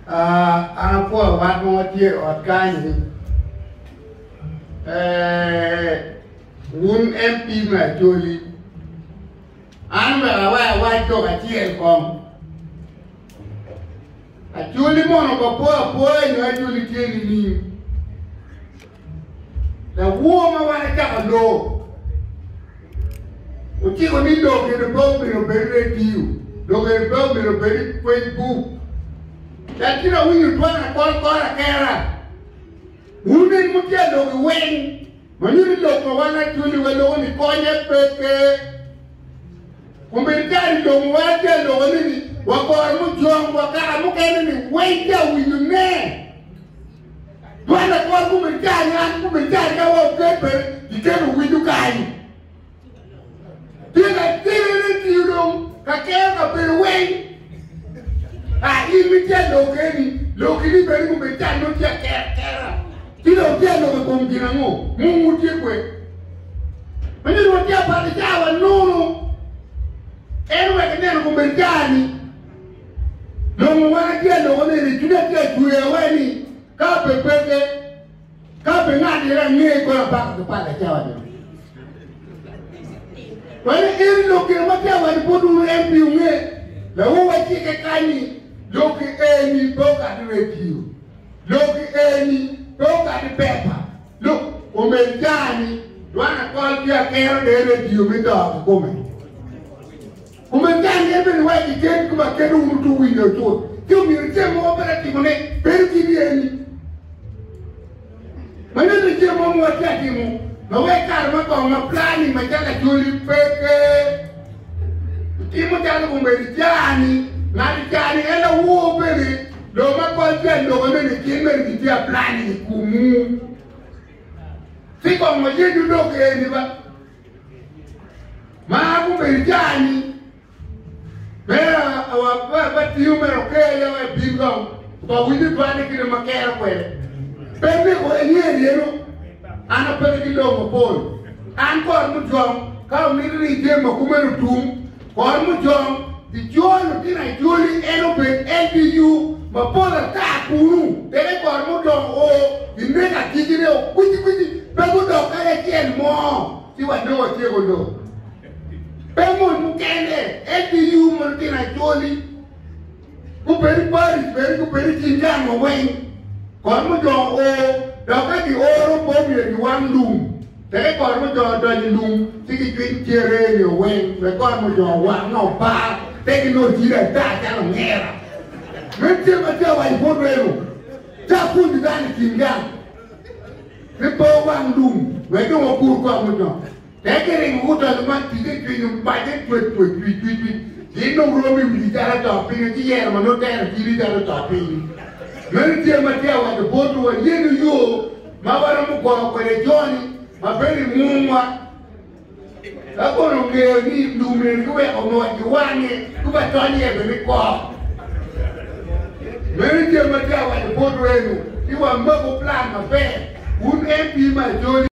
an apwoyo wat mo ma tye i ot kany-ni wun MP me Acholi an omyero awek awac lok acel kong Acholi mono obapwo apwoya nyo Acholi tye nining? Lawor ma wan acaka loo ociko ni lok gire pe omyero obed redio, lok gire pe omyero obed Facebook. Daki na winyo twak na kol kor akera. Wun en mutye lok i weng, ma nyuto ni lok ma wan atweli wa loko ni konye pe ke. Kumeni kare i lok ma wan atye loko ni ni wakor mujong wa kara mukene ni weng tye awinyo ne. Dwande kor kome tar ngat kome tar ka wa oket pe kikelo winyo kany. Tye ka tirene tiyo dong ka keyo ka bedo weng. A in mi tye lok eni, lok ini beri kome tar no tye ker kera. Ti dong tye lok e kom gin ango? Mung wu tye kwe. Mene dong tye apati tar wa nono. En wek neno kome tar ni. Dong wan atye aloko nene, cwiny atye acweya wai ni ka pe peke, ka pe ngat ira ange kono apako ki pala cawa ni. Wani eri lok gin ma atye awaco bot unu en pi unge, lawu wa cike kany ni lok i eni pe okati radio, lok i eni pe okati pepa, lok omel caa ni dwan akol ki akero de radio me to ki kome. Kumeno, ka angeto ni wek giked kome aketa, wun wutwero winyo acut, ci omyero ice mo ma pedo atimone bedo ki ryeni. Manonok ice mo ma watye atimo ma weko kare ma kong ma pla-ni macalo acoli peke. Itimo calo obedo ica-ni, ngat ica-ni en awor bene, dong ma kol tye aloko nene cen mere gitye apla-ni i komwu. Ci kong wayenyo lok eni ba. Ma gubedo jami mera awa ba tiyo mera okeya ya wa bin ga ba winyo dwane kine ma kero kwede. Ben ni ko enye yeno an apede ki lobo pol. An kor mujwang ka omito ni jem ma kumeno tum Kor mujong, pi jor lutino ajoli en obed LDU mapol ata kunu, tenge kor mudongo o i nek agikine o kwici kwici, pe gudok kadi acel mo, ci wadong watyeko lok. Pe mon mukene, LDU ma lutino ajoli. gubedo i Paris bene gubedo i kin gang wa weng kot mujong o dok ka gioro pe omyero giwang lum teke kot mujong odonyo i lum ci gicwiny cere nio weng me kot mujong wang ma opa te ginongo ciri ata calo ongera men cel ma tye awaco bot reno ca pwonyo dano i kin gang ni pe wang lum wek dong wakur kot mujong Tek iringo wot donyo man ticce cwinyo mace cwec cwec cwiny cwiny cwiny gin dong romo i wigi calo to piny ci yero ma nongo tero cwinyi calo to piny meno tye ma tye awaco bot wa yenu yo ma waromo gwoko kwede joni ma bedo i mungwa ka kono ongeyo ni lum eni giweko mot giwange kuba tony iye bene kok meno tye ma tye awaco bot wenu ni wamako plan maber wun MP ma joli